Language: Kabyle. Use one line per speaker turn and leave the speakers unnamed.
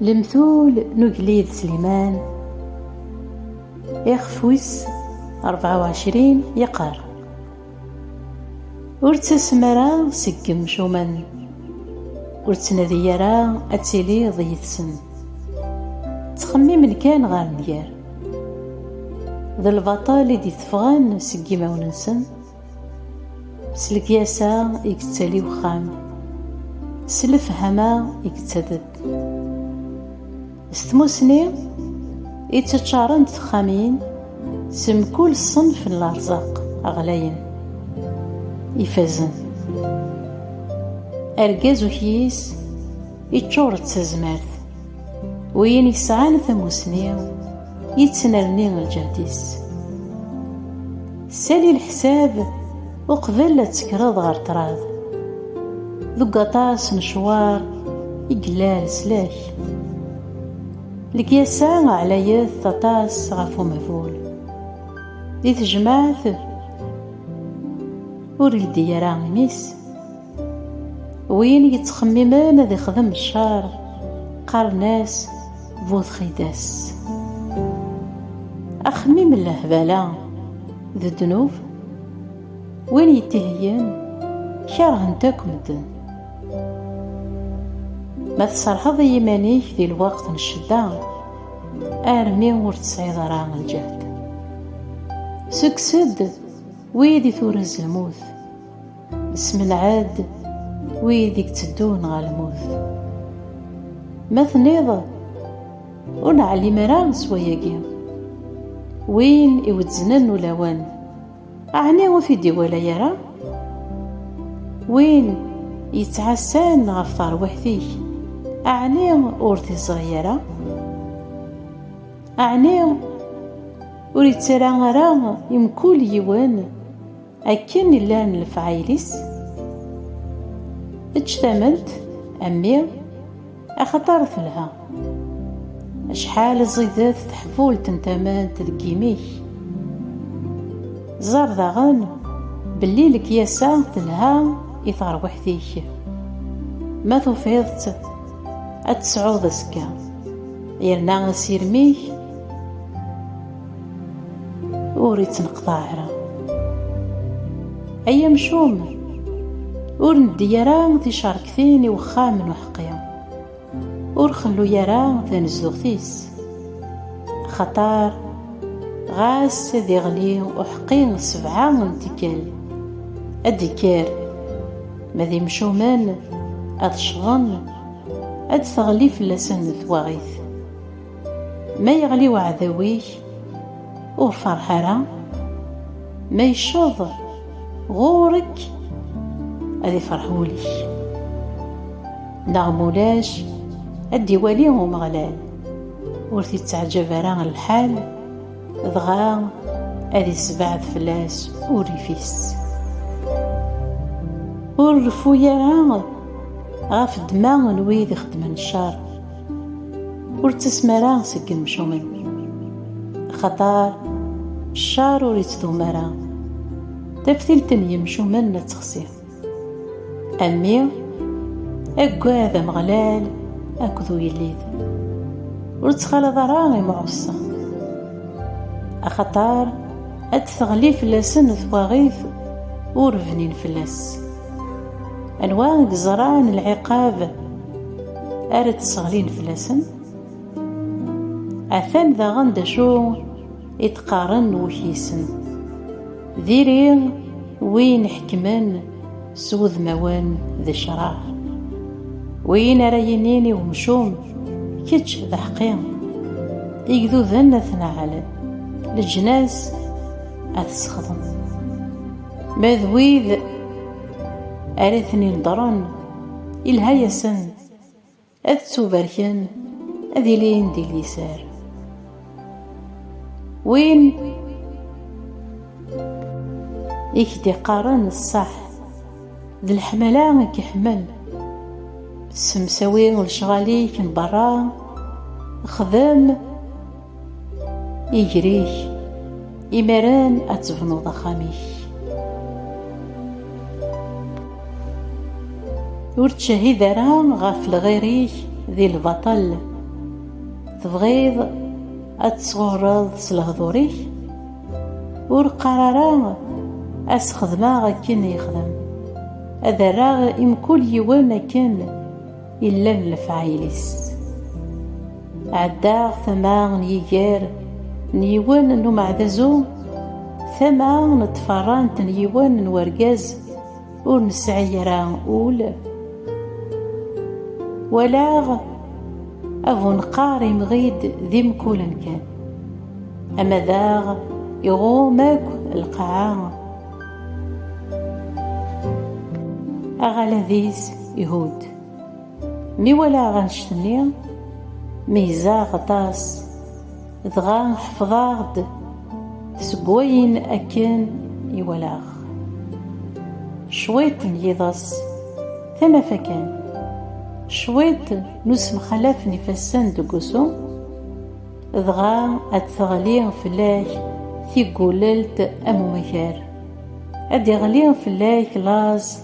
Lemtul n ugellid Sliman ixef wis 24 yeqqar Ur ttasem ara seg yemcumen ur ttnadi ara ad tiliḍ yid-sen ttxemmimen kan ɣer nnger d lbaṭel i d-iteffɣen seg yimawen-nsen S lekyasa i yettali uxxam, s lefhama i yettadeb. S tmusni i tteččarent texxamin s mkul ṣṣenf n lerzaq ɣlayen, ifazen. Argaz ukyis iččur d tazmert. Win yesɛan tamusni yettnerni lǧehd-is. Sali leḥsab uqbel ad tekkreḍ ɣer ṭṭrad. Deg aṭas n ccwar i yella leslak. Lekyasa ɛlayet aṭas ɣef umehbul. Di tejmaɛt ur yeldi ara imi-s. Win yettxemmimen ad ixdem ccer, qqaren-as bu txidas. Axemmim n lehbala d ddnub, win yettheyyen kerhen-t akk medden. Ma tserrḥeḍ i yiman-ik di lweqt n ccedda, armi ur tesɛiḍ ara lǧehd. Ssukkes-d wid i turez lmut. Smelɛed wid i yetteddun ɣer lmut. Ma tenniḍ, ur neɛlim ara s wayagi. Win iwezznen ulawen, ɛni ur t-id-iwala ara? Win yettɛassan ɣef terwiḥt-ik, ɛni ur t-iẓri ara? Ɛni ur yettara ara i mkul yiwen? Akken i llan lefɛayel-is, eǧǧ tament a mmi axaṭer telha. Acḥal ẓidet teḥbult n tament deg yimi-k! Ẓer daɣen belli lekyasa telha i terwiḥt-ik. Ma tufiḍ-tt, ad tt-tesɛuḍ azekka, yerna asirem-ik. ur ittneqḍaɛ ara ay amcum ur neddi ara ticerktin i wexxam n uḥeqqi ur xellu ara tanezduɣt-is axaṭar ɣas ad iɣli uḥeqqi sebɛa n tikkal ad d-ikker ma d imcumen ad ccḍen ad d-teɣli fell-asen twaɣit Ma yeɣli uɛdaw-ik, ur ferreḥ ara, ma yecceḍ ɣur-k, ad ifreḥ wul-ik. Neɣ ma ulac, ad d-iwali Umeɣlal, ur t-itteɛjab ara lḥal, dɣa ad isbeɛd fell-as urrif-is. Ur reffu ara ɣef ddma n wid ixeddmen ccer. Ur ttasem ara seg yemcumen axaṭer ccer ur ittdum ara taftilt n yemcumen ad texsi a mmi aggad ameɣlal akked uyellid ur ttxalaḍ ara imɛuṣa axaṭer ad d-teɣli fell-asen twaɣit ur bnin fell-as anwa i yeẓran lɛiqab ara d-sseɣlin fell-asen? Atan daɣen d acu i d-qqaren wukyisen, diri win ḥekmen s wudmawen d ccṛeɛ, win ara yinin i umcum kečč d aḥeqqi, igduden ad ten-ɛalen, leǧnas ad t-sexḍen. Ma d wid ara ten-ineḍren, ilha-yasen ad ttubarken, ad ilin di liser. Win i k-d-iqqaren ṣṣeḥ, d leḥmala i k-iḥemmel. Ssemsawi lecɣal-ik n berra, xdem. Igrik, imaren ad tebnuḍ axxam-ik. Ur ttcehid ara ɣef lɣir-ik di lbaṭel. Tebɣiḍ ad tesɣurreḍ s lehdur-ik? Ur qqar ara ad s-xedmeɣ akken yexdem, ad rreɣ i mkul yiwen akken Illan n lefɛayel-is. Ɛeddaɣ tama n yiger n yiwen n umeɛdazu, tama n tferrant n yiwen n urgaz ur nesɛi ara ul. Walaɣ abuneqqar imɣi-d d imkulen kan, ama daɣ iɣum akk lqaɛa. Aɣalad-is. Ihud. Mi walaɣ annect-nni, meyyzeɣ aṭas, dɣa ḥefḍeɣ-d seg wayen akken i walaɣ. Cwiṭ n yiḍes, tanafa kan. Cwiṭ n usemxalaf n ifassen deg usu, dɣa ad d-teɣli fell-ak tiggulelt am umakar. Ad d-iɣli fell-ak laẓ,